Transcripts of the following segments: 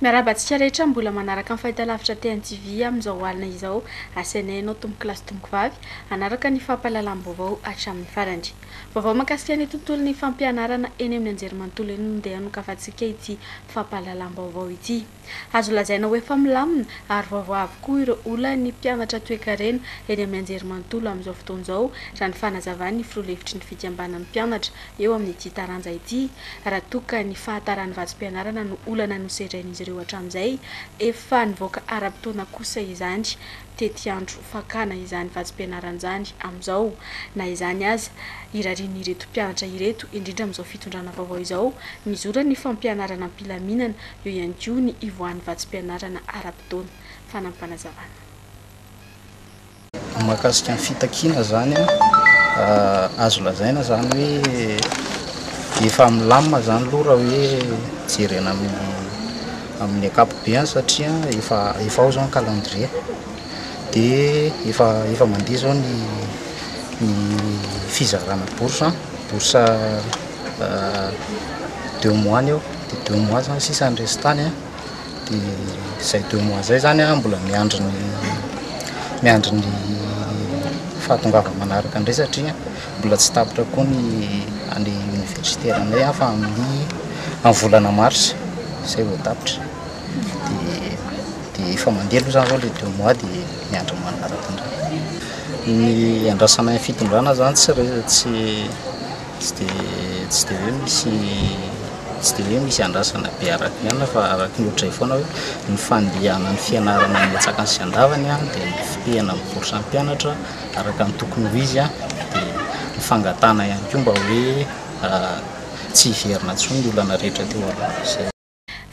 Miarahaba antsika rehetra mbola manaraka ny fahitalavitra TNTV amin'izao alina izao. Asaina ianao tompokolahy sy tompokovavy hanaraka ny fampahalalam-baovao hatramin'ny farany. Vaovao mahakasika ny tontolon'ny fampianarana eny amin'ny anjerimanontolo eny no ndeha nokafantsika ity fampahalalam-baovao ity. Azo lazaina ho efa milamina ary vaovao avokoa ireo olan'ny mpianatra toekarena eny amin'ny anjerimanontolo amin'izao fotoana izao raha ny fanazavan'ny filoha lefitry ny fikambanan'ny mpianatra eo amin'ity taranja ity raha toa ka ny fahataran'ny vatsim-pianarana no olana nosedrain'izy ireo hatramin'izay. Efa nivoaka ara-potoana kosa izany tetiandro fakana izany vatsim-pianarana izany amin'izao. Na izany aza, irarian'ireto mpianatra ireto, indrindra amin'izao fitondrana vaovao izao, mizora ny fampianarana am-pilaminana, eo ihany koa ny ivoahan'ny vatsim-pianarana ara-potoana. Fanampin'Fanazavana. Mahakasika ny fitakiana zany an, azo lazaina zany hoe efa milamina zany aloha raha hoe jerena amin'ny amin'ny ankapobeany satria efa efa ao zao ny calendrier de efa efa mandeha zao ny ny fizarana bourse an, bourse deux mois ny eo de deux mois zany sisa ny restany an. Dia izay deux mois izay izany aho mbola miandry ny miandry ny fahatongavany manaraka indray satria mbola tsy tapitra koa ny année universitairenay aho fa amin'ny amin'ny volana mars izay vao tapitra. Dia dia efa mandeha aloha izany izao ilay deux mois dia miandry ny manaraka indray. Ny iandrasanay ny fitondrana izany tsy re- tsy Tsy dia tsy dia hoe misy tsy dia hoe misy andrasana be araka ny anona fa araka ny ohatray foana hoe ny fandehanan'ny fianarana amin'ny antsakany sy andavany a dia ny fitehana amin'ny bourse ny mpianatra araka ny tokony ho izy a dia ny fangatahana ihany koa mba hoe tsy hiverina intsony ny olana rehetra teo aloha. Izay.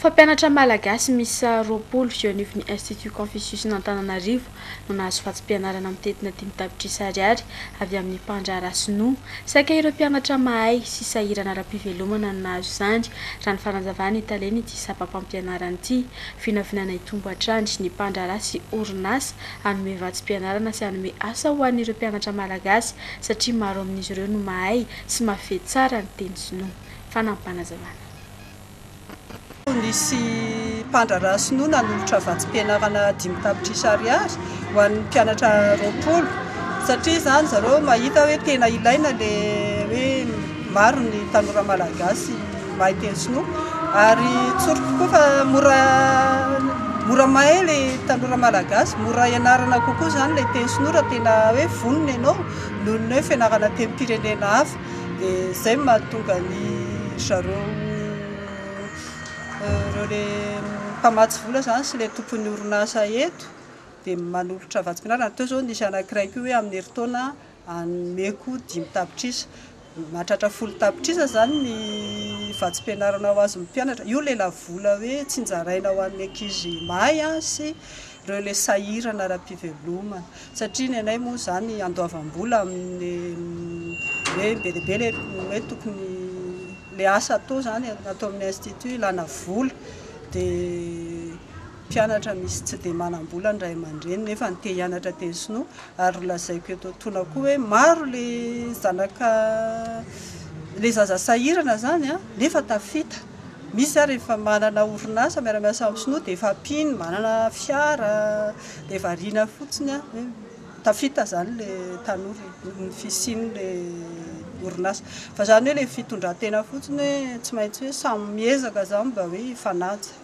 Mpampianatra malagasy miisa roapolo eo anivon'ny Institut Confucius-n'Antananarivo no nahazo vatsim-pianarana mitentina dimy tapitrisa ariary avy amin'ny mpandraharaha sinoa. Saika ireo mpianatra mahay sy sahirana ara-pivelomana no nahazo izany, raha ny fanazavan'ny talen'ity sampam-pampianarana ity. Vinavinaina hitombo hatrany ny mpandraharaha sy orinasa hanome vatsim-pianarana sy hanome asa ho an'ireo mpianatra malagasy satria maro amin'izy ireo no mahay sy mahafehy tsara ny teny sinoa. Fanampin'panazavana. Nisy mpandraharaha sinoa nanolotra vatsim-pianarana dimy tapitrisa ariary ho an'ny mpianatra roapolo satria izany zareo mahita hoe tena ilaina le hoe maro ny tanora malagasy mahay teny sinoa ary tsory tokoa fa mora mora mahay le tanora malagasy mora ianarana kokoa izany le teny sinoa raha tena hoe vonona ianao noho ny hoe fianarana teny pirenena hafa dia izay no mahatonga ny ry zareo ireo ilay mpamatsy vola izany sy ilay tompon'ny orinasa eto dia manolotra vatsim-pianarana, raha toa izao nisy anankiray koa hoe amin'ny herintaona hanomeko dimy tapitrisa, mahatratra folo tapitrisa izany ny vatsim-pianarana ho azon'ny mpianatra, io ilay lavola hoe tsinjaraina ho an'ny ankizy mahay sy reo le sahirana ara pivelomana satria ny anay moa zany andoavam bola aminy hoe be dia be le hoe tokony le asa atao zany atao aminy institut ilana vola dia mpianatra misy tsy dia manam bola ny ray aman dreny nefa ny te hianatra teny sinoa ary nolazaiko eto antoana koa hoe maro le zanaka le zaza sahirana zany an nefa tafita Misy ary efa manana orinasa miara-miasa amin'ny sinoa dia efa mpino, manana fiara dia variana fotsiny an, hoe tafita izany ilay tanora e, noho ny fisian'ilay orinasa. Fa izany hoe ilay fitondran-tena fotsiny hoe tsy maintsy hoe samy miezaka izany mba hoe hifanaja.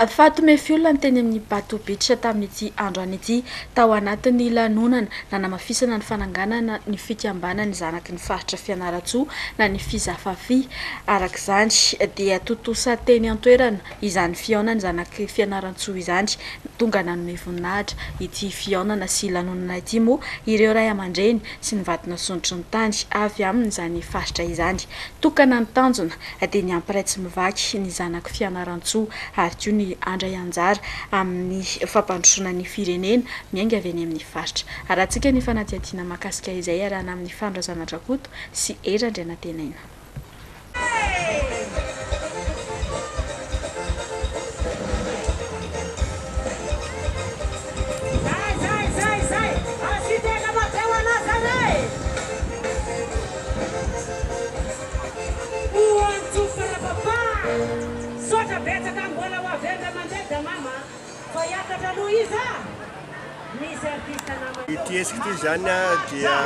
Fatou Mefiol ny teny amin'ny Bato Beach tamin'ity androany ity tao anatin'ny lanonana nanamafisana ny fananganana ny fikambanan'ny zanaky ny faritra Fianarantsoa na ny Fizafafi. Araka izany dia tontosa teny an-toerana izany fihaonan'ny zanaky Fianarantsoa izany. Tonga nanome voninahitra ity fihaonana sy lanonana ity moa ireo ray aman-dreny sy ny vadin'Antsonitry ny tany avy amin'izany faritra izany. Tokana ny tanjona. dia ny hampiray tsy mivaky ny zanako Fianarantsoa ary koa ny handray anjara amin'ny fampandrosoana ny firenena miainga avy eny amin'ny faritra. Arahantsika ny fanadihadiana mahakasika izay iarahana amin'ny Fano Razanadrakoto sy Hery Andrianantenaina. Ôooh andry Jofa la papa misaotra betsaka mbola ho avy indray mandeha da mama a fa hiakatra aloha izy a misy artiste namana Ity hetsika ity izany dia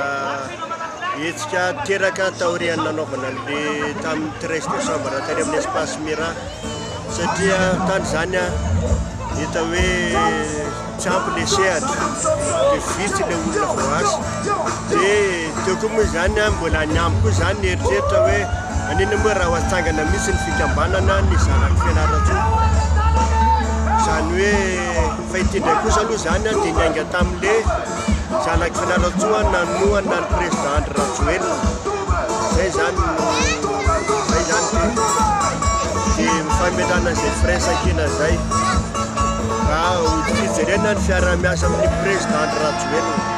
hetsika teraka taorian'ny nanaovana an'le tamin'ny treize décembre tany amin'ny espace Mira satria tany izany hita hoe Tsy ampy le sehatra de vitsy le olona voaasa de teo koa moa izany a mbola ny amiko koa zany ny eritreritra hoe manina moa raha ho atsangana mihitsy ny fikambanana ny zanak'i Fianarantsoa zany hoe fa ity ndray kosa aloha zany a de niainga tamle Zanaky Fianarantsoa nanohana ny Président Andry Rajoelina. Zay zany no, zay zany ty. Sy fametrahana zay firaisankina zay. Raha hoditr'io jerena ny fiarahamiasa amin'ny Président Andry Rajoelina.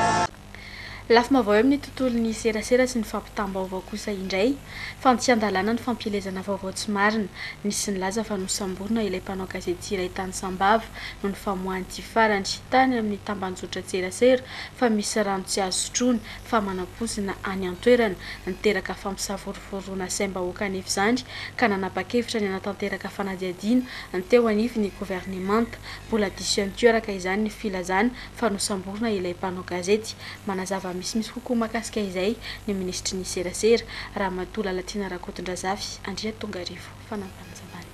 Lafim-baovao eo amin'ny tontolon'ny serasera sy ny fampitam-baovao kosa indray fa tsy an-dalàna ny fampielezana vaovao tsy marina. Nisy nilaza fa nosamborina ilay mpanao gazety iray tany Sambava noho ny famoahan'ity farany tany amin'ny tambanjotran-tserasera fa misy rano tsy azo sotroina fa manam-poizina any an-toerana. Niteraka fampisavorovoroana saim-bahoaka anefa izany ka nanapa-kevitra ny hanatanteraka fanadihadiana teo anivon'ny governemanta. Mbola diso ihany koa araka izany ny filazana fa nosamborina ilay mpanao gazety. Manazava misimisy kokoa mahakasika izay ny minisitry ny serasera, Ramatoa Lalatiana Rakotondrazafy Andriatongarivo. Fanambanizambany.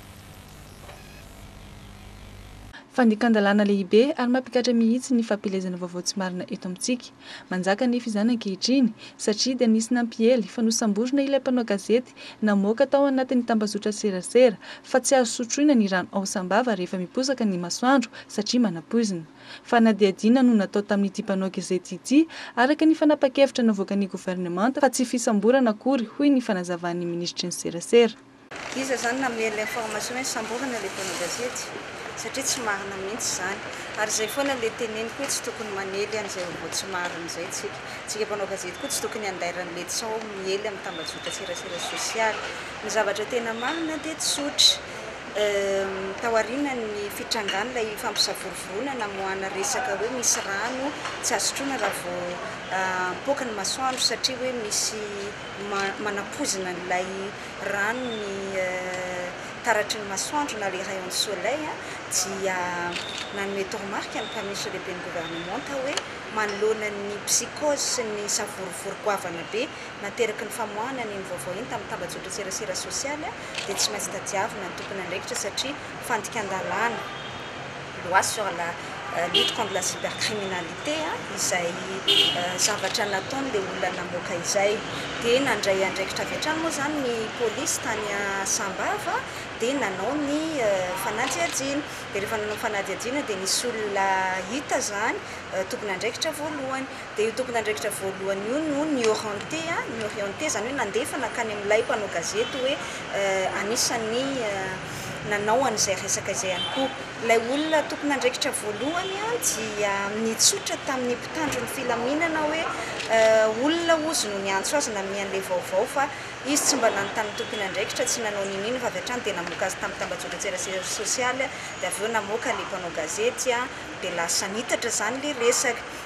Fandikan-dalàna lehibe ary mampikatra mihitsy ny fampielezana vaovao tsy marina eto amintsika. Manjaka anefa izany ankehitriny, satria dia nisy nampiely fa nosamborina ilay mpanao gazety namoaka tao anatin'ny tambazotran-tserasera fa tsy azo sotroina ny rano ao Sambava rehefa miposaka ny masoandro satria manapoizina. Fanadihadiana no natao tamin'ity mpanao gezety ity araka ny fanapan-kevitra navoakan'ny governemanta fa tsy fisamborana akory, hoy ny fanazavan'ny minisitry ny serasera. Iza zany namely information hoe samborina le mpanao gazety? Satria tsy marina mihintsy zany. Ary zay foana le teneniko hoe tsy tokony manely an'izay vaovao tsy marina izay tsika. Tsika mpanao gazety koa tsy tokony handaira an'le tsaho miely amin'ny tambajotra serasera sosialy. Ny zavatra tena marina dia tsotra. Tao arinan'ny fitrangan'ilay fampisavorovoroana namoahana resaka hoe misy rano tsy azo sotroina raha vao mipoaka ny masoandro satria hoe misy manapoizina an'ilay rano ny taratry ny masoandro na les rayons de soleil dia nanome toromarika ny mpamesy lehiben'ny governemanta hoe manoloana ny psychose sy ny savorovoro goavana be nateraky ny famoahana an'iny vaovao iny tamin'ny tambajotran-tserasera sosialy dia tsy maintsy tadiavina ny tompon'andraikitra satria fandikan-dalàna loi sur la lutte contre la cybercriminalité izay zavatra nataon'ilay olona namoaka izay dia nandray andraikitra avy hatrany moa izany ny polisy tany Sambava dia nanao ny fanadihadiana dia rehefa nanao ny fanadihadiana dia nisy olona hita izany tompon'andraikitra voalohany Dia io tompon'andraikitra voalohany io no nioriente, nioriente izany hoe nandefa nankany amin'ilay mpanao gazety hoe anisan'ny nanao an'izay resaka izay ihany koa. Ilay olona tompon'andraikitra voalohany dia nitsotra tamin'ny mpitandro ny filaminana hoe olona hozy no niantso azy nanome an'ilay vaovao fa izy tsy mba lany tamin'ny tompon'andraikitra, tsy nanao n'inon'inona fa avy hatrany dia namoaka azy tamin'ny tambajotran-tserasera sosialy dia avy eo namoaka ilay mpanao gazety dia lasa nitatra izany ilay resaka.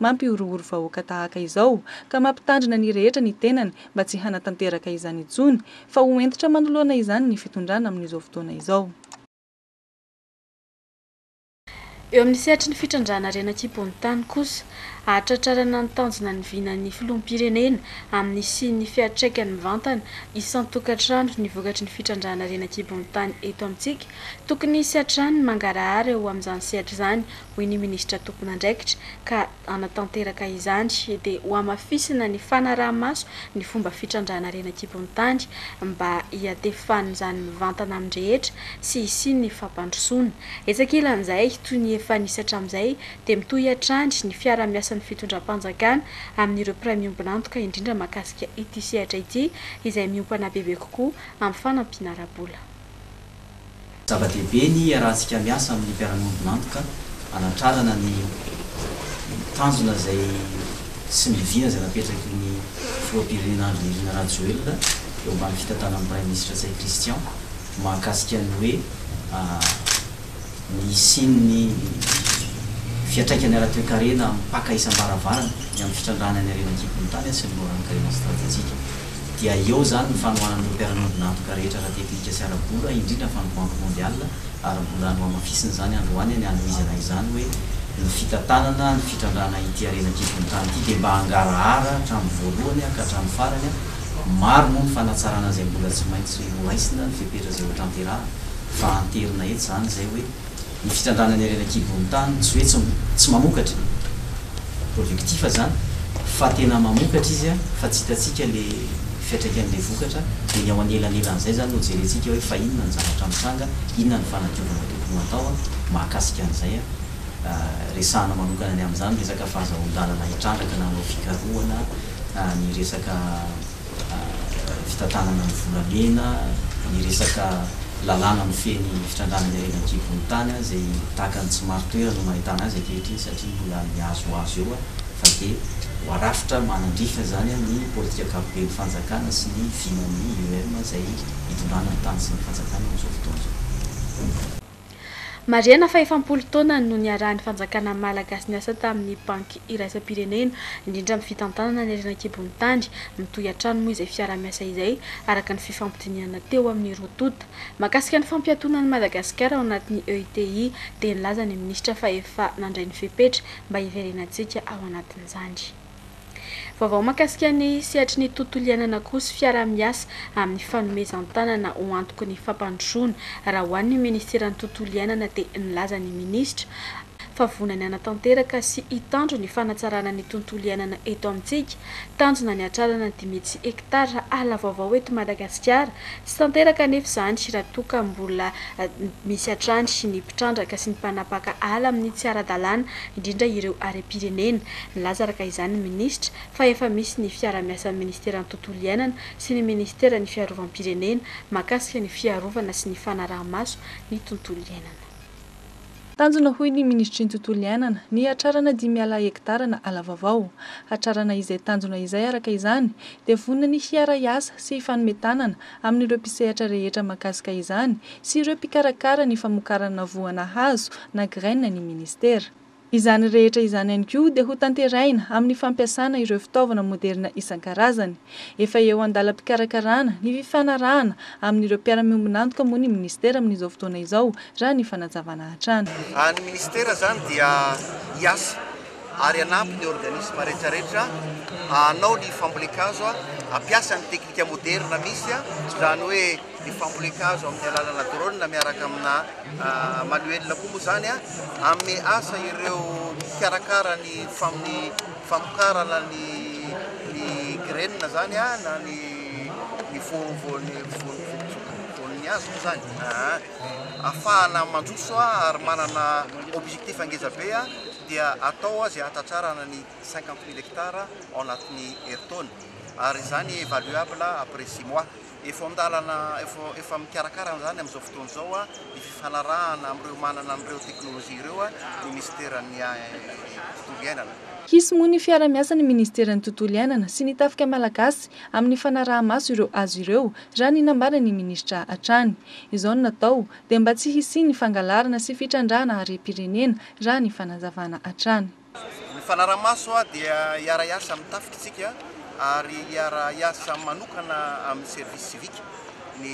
mampihorohoro vahoaka tahaka izao, ka mampitandrina ny rehetra ny tenany mba tsy hanatanteraka izany intsony, fa ho hentitra manoloana izany ny fitondrana amin'izao fotoana izao. Eo amin'ny sehatry ny fitrandrahana harena an-kibon-tany kosa, hahatratrarana ny tanjona ny vinan'ny filoham-pirenena amin'ny hisian'ny fiantraikany mivantana isan-tokantrano ny vokatry ny fitrandrahana harena an-kibon-tany eto amintsika, tokony hisy hatrany ny mangarahara eo amin'izany sehatra izany hoy ny minisitra tompon'andraikitra, ka hanatanteraka izany dia hohamafisina ny fanaraha-maso ny fomba fitrandrahana harena an-kibon'ny tany mba hiatefan'izany mivantana amin'ny rehetra sy hisian'ny fampandrosoana. Etsy ankilan'izay, toy ny efa nisy hatramin'izay dia mitohy hatrany ny fiarahamiasan'ny fitondram-panjakana amin'ireo mpiray miombon'antoka indrindra mahakasika ity sehatra ity izay miompana bebe kokoa amin'ny fanampiana ara-bola. Zava-dehibe ny hiarahantsika miasa amin'ny mpiara-miombon'antoka hanatrarana ny tanjona izay sy ny vina izay napetraky ny Filoham-pirenena Andry Nirina Rajoelina eo ambany fitantanan'ny Praiminisitra Ntsay Christian mahakasika ny hoe ny hisian'ny fiantraikany ara-toekarena amin'ny mpaka isam-baravarana ny amin'ny fitrandrahana ny harena an-kibon'ny tany sy ny moron'ankarena stratejika. dia eo izany ny fanohanan'ireo mpiara-miombon'antoka rehetra ara-tekinika sy ara-bola, indrindra fa ny Banky Mondiale, ary mbola nohamafisina izany androany any Louisiana izany hoe ny fitantanana ny fitrandrahana ity harena an-kibon-tany ity dia mba hangarahara hatramin'ny voalohany ka hatramin'ny farany, maro moa ny fanatsarana izay mbola tsy maintsy horaisina, ny fepetra izay hotanterahana, fa hanterina eto izany izay hoe. Ny fitrandrahana ny harena an-kibon'ny tany tsy hoe tsy mamokatra, productif, izany fa tena mamokatra izy fa tsy hitantsika ilay fiantraikan'ilay vokatra dia ny ao anelanelan'izay izany no jerentsika hoe fa inona ny zavatra mitranga, inona ny fanadiovana tokony ho atao mahakasika an'izay. Resahana manokana ny amin'izany resaka fahazahoan-dalana hitrandraka na hanao fikarohana ny resaka. fitantanana ny volamena, ny resaka lalàna mifehy ny fitrandrahana ny harena an-kibon'ny tany izay tahaka ny tsy marin-toerana no mahitana azy ankehitriny satria mbola mihazohazo eo fa dia ho arafitra manandrify izany ny politika ankapoben'ny fanjakana sy ny vinan'ny IEM izay itondrana ny tany sy ny fanjakana amin'izao fotoana izao. Marihana fa efapolo taona no niarahan'ny fanjakana Malagasy niasa tamin'ny Banky iraisam-pirenena, indrindra amin'ny fitantanana ny harena an-kibon'ny tany. Mitohy hatrany moa izay fiaraha-miasa izay, araka ny fifampidinihana teo amin'ny roa tonta. Mahakasika ny fampiatoana an'i Madagasikara ao anatin'ny EUTI dia nilaza ny minisitra fa efa nandray ny fepetra mba hiverenantsika ao anatin'izany. Vaovao mahakasika ny sehatry ny tontolo iainana koa sy fiaraha-miasa amin'ny fanomezan-tanana ho antoky ny fampandrosoana raha ho an'ny Ministeran'ny Tontolo iainana dia nilaza ny Minisitra fa vonona ny hanatanteraka sy hitandro ny fanatsarana ny tontolo iainana eto amintsika. Tanjona ny hatrarana ny dimy hetsy hektara ala vaovao eto Madagasikara. Tsy tanteraka anefa izany raha toa ka mbola misy hatrany ny mpitrandraka sy ny mpanapaka ala amin'ny tsy ara-dalàna, indrindra ireo harem-pirenena. Nilaza araka izany ny minisitra fa efa misy ny fiarahamiasan'ny ministeran'ny Tontolo iainana sy ny ministeran'ny Fiarovam-pirenena mahakasika ny fiarovana sy ny fanaraha-maso ny tontolo iainana. Tanjona hoy ny minisitry ny Tontolo iainana ny hatrarana dimy ala hektara na ala vaovao. Hatrarana izay tanjona izay araka izany dia vonona ny hiara-hiasa sy hifanome tanana amin'ireo mpisehatra rehetra mahakasika izany sy ireo mpikarakara ny famokarana voana hazo na graines ny ministera. Izany rehetra izany ihany koa dia ho tanterahina amin'ny fampiasana ireo fitaovana moderina isan-karazany. Efa eo an-dalam-pikarakarana ny fifanarahana amin'ireo mpiara-miombon'antoka moa ny minisitera amin'izao fotoana izao, raha ny fanazavana hatrany. Ny minisitera izany dia hiasa ary hanampy ny organisma rehetrarehetra hanao ny fambolen-kazo, hampiasa ny teknika moderina misy, izany hoe. ny fambolen-kazo amin'ny alalana drone miaraka amina manuel koa moa izany hanome asa ireo mpikarakara ny famokarana ny graines izany na ny voan'ny hazo moa izany, ahafahana mandroso ary manana objectif ngeza be dia atao izay hanatratrarana ny cinquante mille hectares ao anatin'ny herintaona ary izany évaluable après six mois. Efa an-dalana, efa mikarakara an'izany amin'izao fotoana izao ny fifanarahana amin'ireo manana an'ireo teknolojia ireo ny minisiteran'ny Tontolo iainana. Hisy moa ny fiara-miasa ny minisiteran'ny Tontolo iainana sy ny Tafika malagasy amin'ny fanaraha-maso ireo hazo ireo raha ny nambaran'ny minisitra hatrany. Izao no natao dia mba tsy hisian'ny fangalarana sy fitrandrahana harem-pirenena raha ny fanazavana hatrany. Ny fanarahamaso dia hiara-hiasa amin'ny tafika isika ary hiara-hiasa manokana amin'ny service civique ny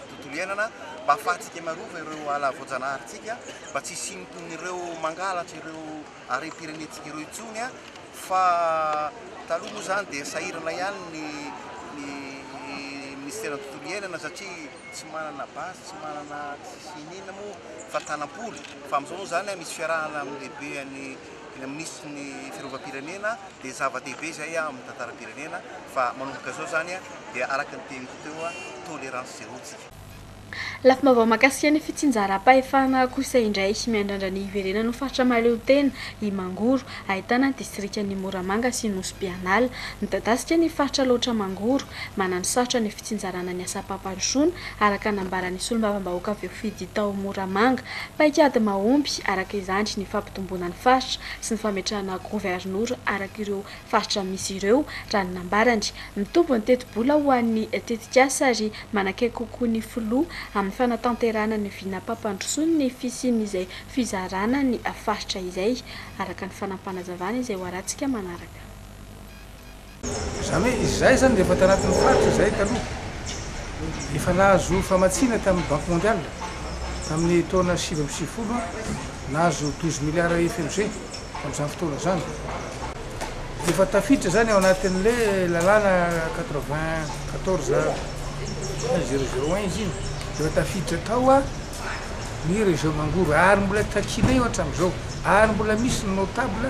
tontolo iainana mba hahafahantsika miarova ireo ala voajanaharintsika mba tsy hisian'ireo mangalatra ireo harem-pirenentsika ireo intsony fa taloha moa izany dia sahirana ihany ny minisiteran'ny tontolo iainana satria tsy manana base, tsy manana tsisy inona moa fa tanam-polo fa amin'izao moa izany misy fiarahana amin'ny lehibe an'ny minisitry ny fiarovam-pirenena dia zava-dehibe izay amin'ny tantaram-pirenena fa manomboka izao izany dia araka ny teniko teo tolérance zéro tsika. Lafim-baovao mahakasika ny fitsinjaram-pahefana kosa indray, miandrandra ny hiverenan'ny faritra mahaleotena i Mangoro ahitana ny distrikan'i Moramanga sy Nosy Bianala. Midadasika ny faritra Alaotra Mangoro. Manana sarotra ny fitsinjarana ny asam-pampandrosoana, araka ny nambaran'ny solombavambahoaka voafidy tao Moramanga. Paikady mahomby, araka izany, ny fampitomboana ny faritra sy ny fametrahana governora araka ireo faritra misy ireo, raha ny nambarany. Mitombo ny tetibola ho an'ny tetikasa ary manakaiky kokoa ny filoha amin'ny fanatanterahana ny vinam-pampandrosoany ny fisian'izay fizarana ny faritra izay araka ny fanapanazavana izay ho arantsika manaraka. Izany hoe izahay izany dia efa tanatin'ny faritra izahay taloha. Efa nahazo famatsiana tamin'ny Banque Mondiale tamin'ny taona sivy amby sivifolo nahazo douze milliards EFLG tamin'izany fotoana izany. Dia efa tafiditra izany ao anatin'ilay lalàna quatre-vingt-quatorze point zéro zéro un izy iny. Dia efa tafiditra tao. ny région mangoro ary mbola takianay eo hatramin'izao ary mbola misy ny notable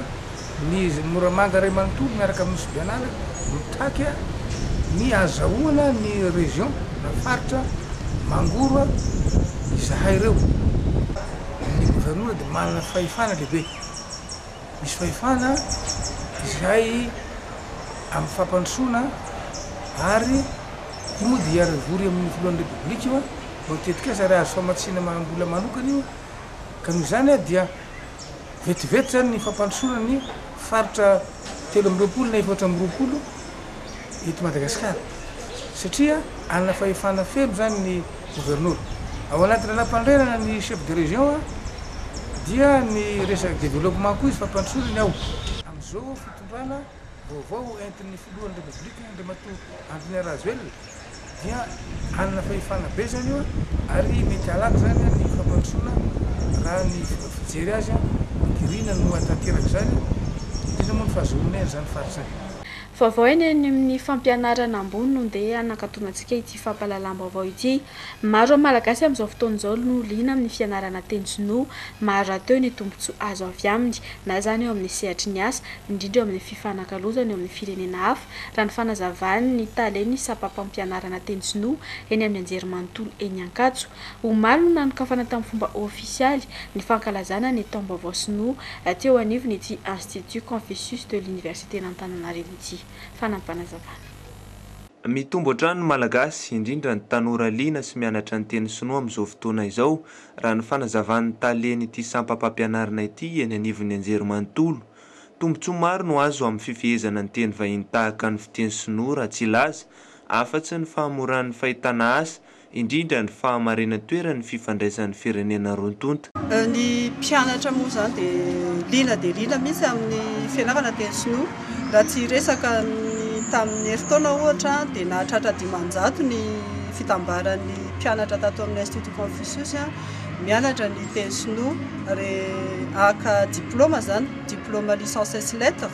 ny moramanga iray manontolo miaraka amin'ny nosy bianala mitaky ny azahoana ny région na faritra mangoro izahay ireo ny gouvernora dia manana fahefana lehibe Misy fahefana izay amin'ny fampandrosoana ary io moa dia hiara-hivory amin'ny filohan'ny Repoblika io vao tetikasa ary azo famatsiana amam-bola manokana io ka noho izany dia vetivety izany ny fampandrosoana ny faritra telo amby roapolo na efatra amby roapolo eto Madagasikara satria hanana fahefana feno izany ny Governora. Ao anaty lalàmpanorenana ny chef de région dia ny resaka développement koa izy fampandrosorany ao. Amin'izao fitondrana vaovao entin'ny filohan'ny Repoblika Andriamatoa Antonio Rajoelina dia hanana fahefana be izany io ary mety halaky izany ny fampandrosoana raha ny fijery azy, Girina no hahatanteraka izany, indrindra moa ny fahazoana izany faritra izany. Vaovao eny amin'ny fampianarana ambony no ndeha hanakatona antsika ity fampahalalam-baovao ity. Maro amin'ny Malagasy amin'izao fotoana izao no liana amin'ny fianarana teny sinoa. Maro rahateo ny tombontsoa azo avy aminy, na izany eo amin'ny sehatry ny asa, indrindra eo amin'ny fifanakalozana eo amin'ny firenena hafa, raha ny fanazavan'ny talen'ny sampam-pampianarana teny sinoa eny amin'ny anjerimanontolo eny Ankatso. Omaly no nanokafana tamin'ny fomba ofisialy ny fankalazana ny taom-baovao sinoa teo anivon'ity Institut Confucius de l'Universitén'Antananarivo ity. Fanampinazavana. Mitombo hatrany ny Malagasy, indrindra ny tanora liana sy mianatra ny teny sinoa amin'izao fotoana izao, raha ny fanazavan'ny talen'ity sampam-pampianarana ity eny anivon'ny Anjerimanontolo. Tombontsoa maro no azo amin'ny fifehezana ny teny vahiny tahaka ny fiteny sinoa raha tsy hilaza, afa-tsy ny fahamoran'ny fahitana asa indrindra ny fahamarinan-toeran'ny fifandraisan'ny firenena roa tonta. Ny mpianatra moa izany dia liana dia liana mihitsy amin'ny fianarana teny sinoa. Raha tsy hiresaka ny tamin'ny herintaona ohatra dia nahatratra dimanjato ny fitambaran'ny mpianatra tato amin'ny Institut Confucius mianatra ny teny sinoa ary haka diplaoma izany, diplaoma licence ès lettres.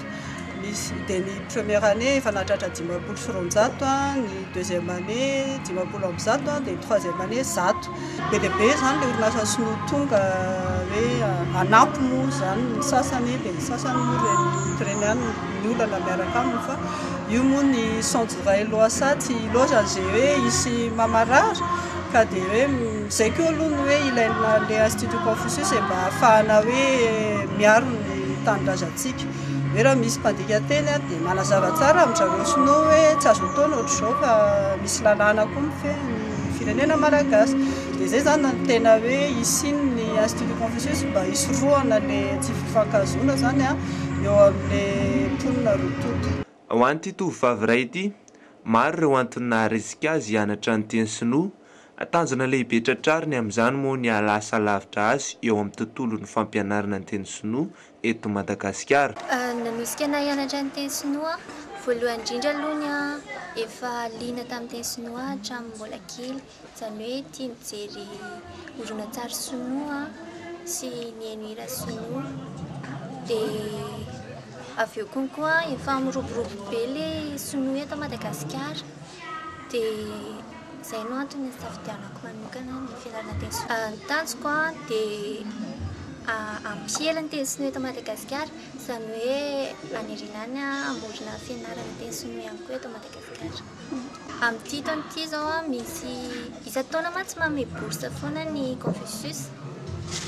Misy dia ny première année efa nahatratra dimampolo sy roanjato, ny deuxième année dimampolo amby zato dia ny troisième année zato. Be dia be izany ilay orinasa sinoa tonga hoe hanampy moa izany ny sasany dia ny sasany moa ireny mpireny ihany no ny olana miaraka aminy fa io moa ny saonjo iray loasaha tsy loza izay hoe hisy mamarary ka dia hoe izay koa aloha ny hoe ilaina ilay institut Confucius mba hahafahana hoe miaro ny tanindrazantsika. Hoe raha misy mpandika teny ary dia manazava tsara amin-dry zareo sinoa hoe tsy azo atao ny ohatr'izao fa misy lalàna koa mifehy ny firenena malagasy. Dia izay izany no tena hoe hisian'ny ny Institut Confucius mba hisorohana ilay tsy fifankahazoana izany an, eo amin'ilay mponina roa tonta. Ho an'ity tovovavy iray ity, maro ireo antony naharisika azy hianatra ny teny sinoa, tanjona lehibe tratrariny amin'izany moa ny hahalasa lavitra azy eo amin'ny tontolon'ny fampianarana ny teny sinoa eto Madagasikara. Nanosika anay hianatra ny teny sinoa voalohany indrindra aloha ny ahy efa liana tamin'ny teny sinoa hatramin'ny mbola kely, izany hoe tia mijery horonantsary sinoa sy mihaino hira sinoa. Dia avy eo konkoa efa miroborobo be ilay sinoa eto Madagasikara dia. Izay no antony nisafidianako manokana ny fianarana teny sinoa. Ny tanjoko dia hampiely ny teny sinoa eto Madagasikara, izany hoe hanerena ny hamorona fianarana teny sinoa ihany koa eto Madagasikara. Amin'ity taona ity izao misy, isan-taona mantsy manome bourse foana ny Confucius,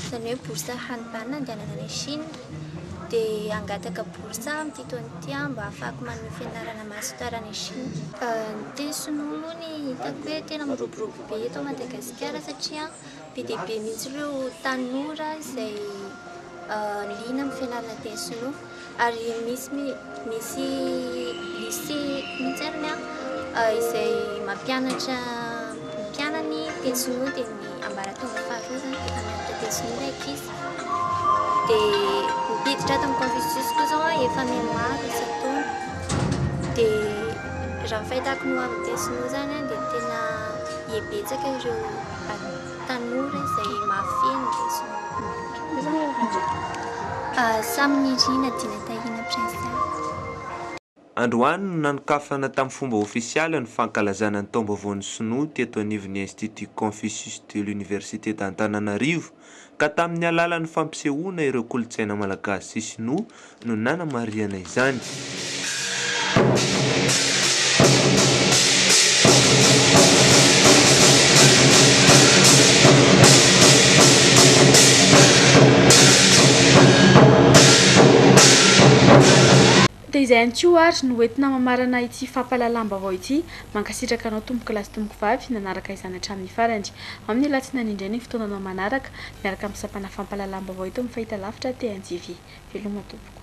izany hoe bourse hanimbany nandehanana any Chine. Dia hangataka bourse aho amin'ity taona ity mba hahafahako manohy fianarana master any Chine. Ny teny sinoa moa no hitako hoe tena miroborobo be eto Madagasikara satria be dia be mihitsy ireo tanora izay liana amin'ny fianarana teny sinoa ary misy Misy lycée mihitsy ary ny ahy izay mampianatra ny mpianany teny sinoa dia ny ambaratonga faharoa izany dia mpampianatra teny sinoa ilay ankizy. Dia niditra tao amin'ny Confucius koa izao aho efa mianmaro isan-taona. Dia raha ny fahitako ny ho amin'ny teny sinoa izany dia tena miha betsaka ireo an-. Tanora izay mahafeno lesona. Samy nirina dina tahiana Prince Taiwo. Androany no nanokafana tamin'ny fomba ofisialy ny fankalazana ny Taombaovaon'ny Sinoa teto anivon'ny Institut Confucius de l'Université d'Antananarivo ka tamin'ny alalan'ny fampisehoana ireo kolontsaina malagasy sy sinoa no nanamarihana izany. Dia izay ihany koa ary no hoentina mamarana ity fampahalalam-baovao ity. Mankasitraka anao tompokolahy sy tompokovavy nanaraka izany hatramin'ny farany. Amin'ny alatsinainy indray ny fotoananao manaraka. miaraka amin'ny sampana fampahalalam-baovao eto amin'ny fahitalavitra aty NJV. Veloma tompoko.